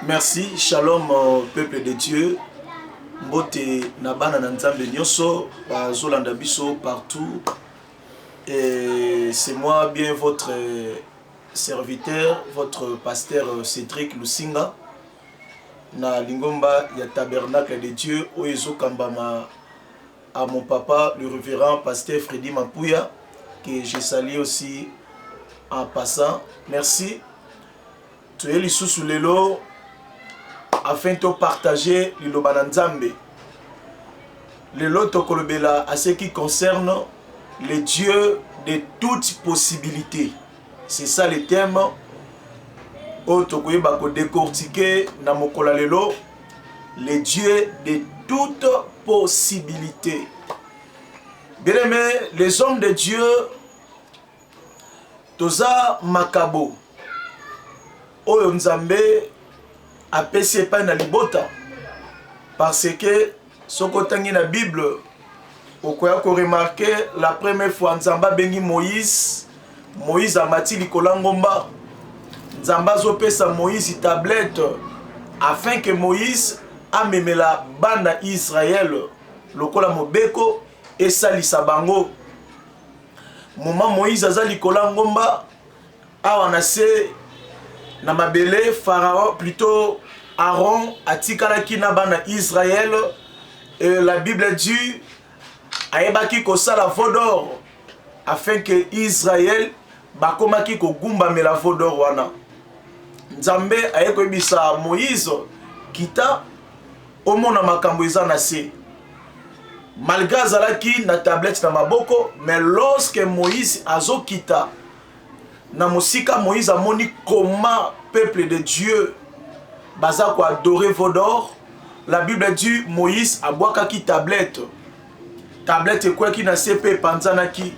Merci shalom peuple de Dieu mbote na bana na nzambe nyoso bazolanda biso partout et c'est moi bien votre serviteur votre pasteur Cédric Lusinga na lingomba ya tabernacle de Dieu oyo ezokambama à mon papa le révérend pasteur Freddy Mapuya que je salue aussi en passant merci toye lisusu lelo afin to partager liloba na nzambe lelo tokolobela à ce qui concerne le dieu de toute possibilité c'est ça le thème oyo tokoyeba kodecortike na mokolo ya lelo le dieu de toute possibilité bien aimé les hommes de dieu toza makabo oyo nzambe apesi epai na libota parce que soki otangi na bible okoya koremarke la première fois nzambe abengi moïse moïse amati likolo ya ngomba nzambe azopesa moïse tablette afin que moïse amemela bana israele lokola mobeko esalisa bango Moma Moïse aza likolo ya ngomba awa na se na mabele Pharaon plutôt Aaron atikalaki na bana Israël et la Bible dit ayebaki kosala veau d'or afin que Israël bakomaki kogumbamela veau d'or wana. Nzambe aye koyebisa Moïse kita omona makambo eza na se malgré azalaki na tablette na maboko mais lorsque moïse azokita na mosika moïse amoni comment peuple de dieu baza koadore vodor la bible dit moïse abwakaki tablette tablette ekweyaki na se mpe epanzanaki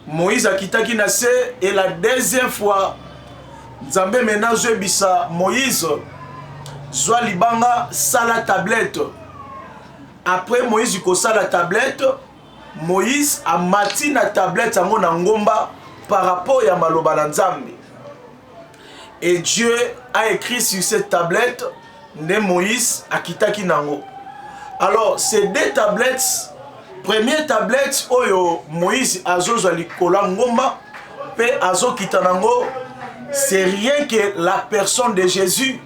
moïse akitaki na se e la deuxième fois nzambe mena azoyebisa moïse zwa libanga sala tablete après moïse kosala tablete moïse amati na tablete yango na ngomba par rapport ya maloba na nzambe Et Dieu a écrit sur cette tablette nde Moïse akitaki nango. Alors ces deux tablettes, première tablette oyo Moïse azozwa likolo ya ngomba mpe azokita nango, c'est rien que la personne de Jésus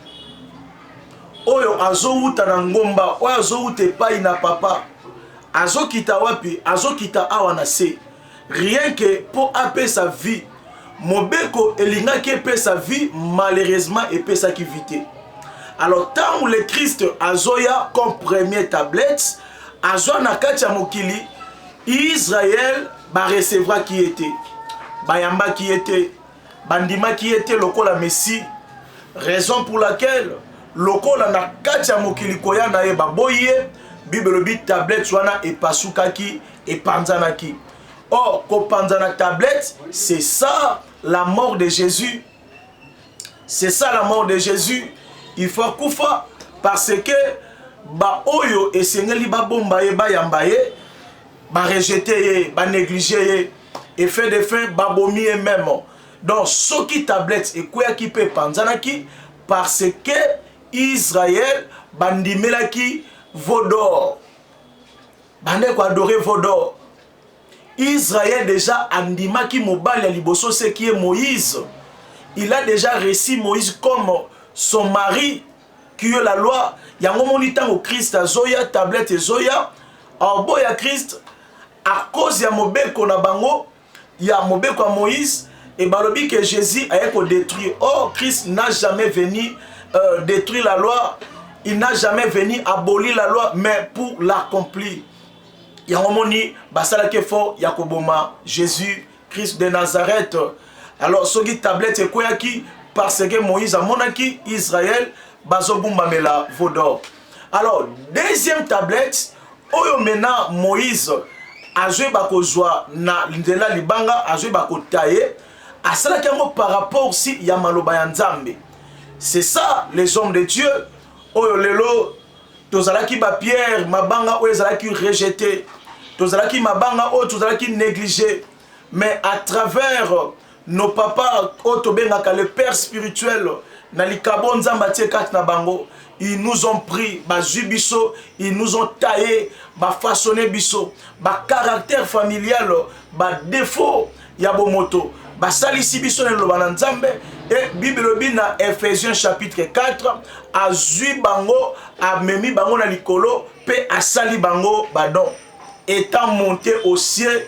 oyo azowuta na ngomba oyo azowuta epai na papa azokita wapi azokita awa na se Rien que po apesa vie mobeko elingaki epesa vie malheureusement epesaki vie te alors ntango le christ azoya comme premier tablette azwa na kati ya mokili israel barecevaki ye te bayambaki ye te bandimaki ye te lokola messi raison pour laquelle lokola na kati ya mokili koya na ye baboyi ye bible elobi tablette wana epasukaki epanzanaki or kopanzana tablette c'est ça la mort de jésus c'est ça la mort de jésus il faut akufa parce que baoyo esengeli babomba ye bayamba ye barejete ye banéglige ye effet de fin babomi ye meme donc soki tablette ekweyaki mpe epanzanaki parce que israel bandimelaki vodor bande ko adorer vos d'or Israël déjà andimaki mobali ya liboso c'est qui est Moïse il a déjà reçu Moïse comme son mari qui est la loi yango moni ntango Christ azoya tablette ezoya orbo ya Christ à cause ya mobeko na bango ya mobeko ya moïse et balobi que jesus aye ko detruire or christ n'a jamais venu euh, detruire la loi il n'a jamais venu abolir la loi mais pour l'accomplir yango moni basalaki effort ya koboma jésus christ de nazareth alors soki tablette ekweyaki parce que moïse amonaki israel bazogumbamela vaudor alors deuxième tablette oyo maintenant moïse azoyeba kozwa na nzela libanga azoyeba kotaye asalaki yango par rapport si ya maloba ya nzambe c'est ça les hommes de dieu oyo lelo tozalaki bapierre mabanga oyo ezalaki rejete tozalaki mabanga oyo tozalaki néglige mais à travers nos papa oyo tobengaka le père spirituel na likabo nzambe atie kati na bango ils nous ont pris bazwi biso ils nous ont taille bafaçonne biso bacaractère familial badéfaut ya bomoto basalisi biso na liloba na nzambe e bible elobi na ephésiens chapitre 4 azwi bango amemi bango na likolo mpe asali bango badon étant monté au ciel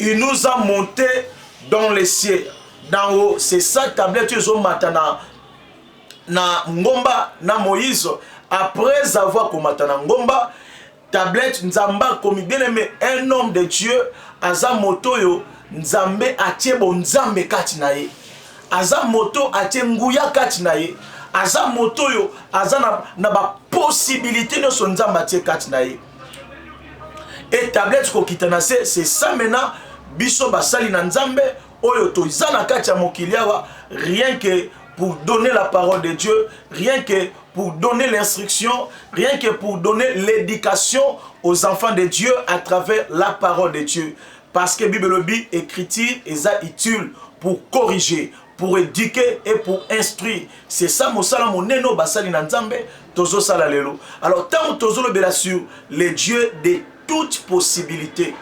il nous a monté dans les cieux dans haut c'est ça tablette ezo mata na na ngomba na moïse après avoir komata na ngomba tablette nzambe akomi bien aimé un homme de dieu aza moto oyo nzambe atie bonzambe kati na ye aza moto atie nguya kati na ye aza moto oyo aza na, na baposibilité nyonso nzambe atie kati na ye et tablette kokita na se c'est ça maintenant biso basali na nzambe oyo toza na kati ya mokili awa rien que pour donner la parole de dieu rien que pour donner l'instruction rien que pour donner l'éducation aux enfants de dieu à travers la parole de dieu parce que bible elobi écriture eza utile pour corriger pour éduquer et pour instruire c'est ça mosala monene oyo basali na nzambe tozosala lelo alors ntango tozolobela sur le dieu de toute possibilité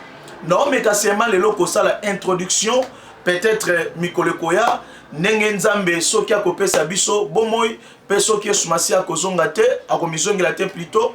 naomeka sema lelo kosala introduction peut-être euh, mikolo ekoya ndenge nzambe soki akopesa biso bomoi mpe soki yesu masiya akozonga te akomizongela te plutot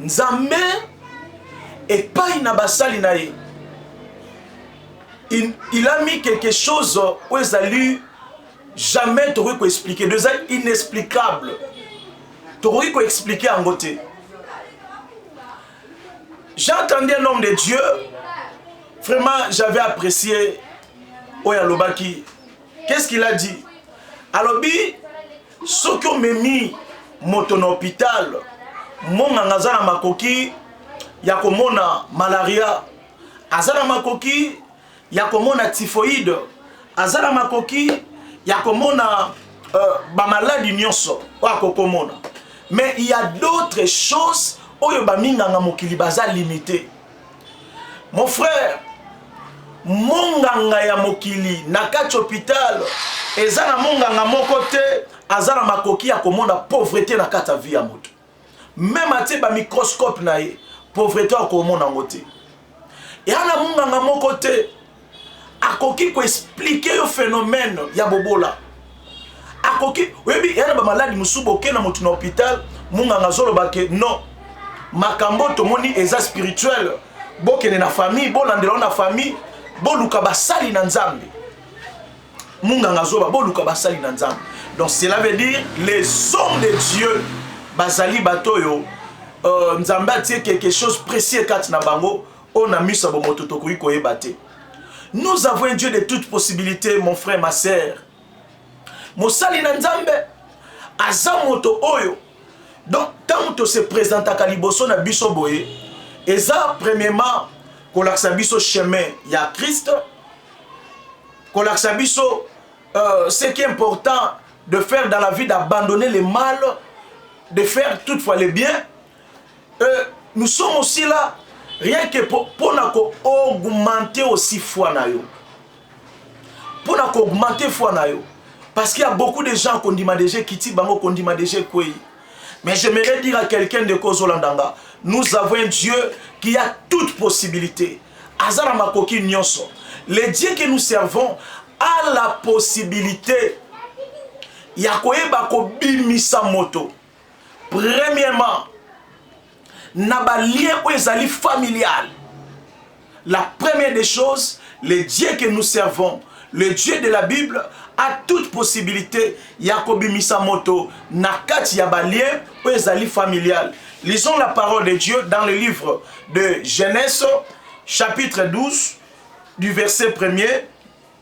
nzambe epai na basali na ye il, il a mis quelque chose oyo ezali jamais tokoki koexplike do eza inexplicable tokoki koexplike yango te j'ai entendu un homme de dieu vraiment j'avais apprécié oyo alobaki qu'est ce qu'il a dit alobi soki omemi moto na hopital monganga aza na makoki ya komona malaria aza na makoki ya komona typhoïde aza na makoki ya komona euh, bamaladi nyonso oyo akokomona mais il y a d'autres choses oyo baminganga mokili baza limite Mon frère, monganga ya mokili na kati hôpital eza na monganga moko te aza na makoki ya komona pauvreté na kati ya vie ya moto. Meme atie ba microscope na ye, pauvreté akomona yango te. Eza na monganga moko te akoki ko expliquer yo phénomène ya bobola akoki oyebi ya na bamaladi mosusu boke na moto na hôpital monganga azoloba ke non makambo tomoni eza spirituel bokende na famille bolandela yo na famille boluka basali na nzambe monganga azoba boluka basali na nzambe donc cela veut dire les hommes de dieu bazali bato oyo euh, nzambe atie quelque chose précieux kati na bango oyo na miso ya bomoto tokoki koyeba te nous avons un dieu de toute possibilité mon frère ma sœur mosali na nzambe aza moto oyo donc ntango tose présentaka liboso na biso boye eza premièrement kolakisa biso chemin ya christ kolakisa biso euh, ce qui est important de faire dans la vie d'abandonner le mal de faire toutefois le bien Euh, nous sommes aussi là rien que mpo na ko augmenter aussi foi na yo mpo na ko augmenter foi na yo parce qu'il y a beaucoup de gens kondima déjà ekiti bango kondima déjà ekwei mais j'aimerais dire à quelqu'un de kozolanda nga nous avons un dieu qui a toute possibilité aza na makoki nyonso le dieu que nous servons a la possibilité ya koyeba kobimisa moto Premièrement, na ba liens oyo ezali familial. La première des choses, le Dieu que nous servons, le Dieu de la Bible, a toute possibilité ya kobimisa moto na kati ya ba liens oyo ezali familial. Lisons la parole de Dieu dans le livre de Genèse, chapitre 12, du verset 1er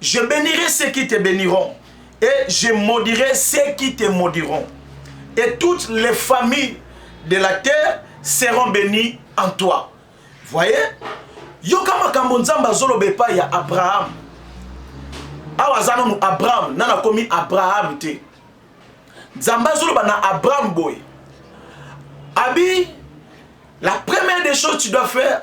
Je benirai ceux qui te beniront et je maudirai ceux qui te maudiront. Et toutes les familles de la terre seront bénies en toi. Voyez Yoka makambo Nzambe azoloba epai ya Abraham. Awa aza nanu Abraham, nana akomi Abraham te. Nzambe azoloba na Abraham boye. Abi, la première des choses tu dois faire,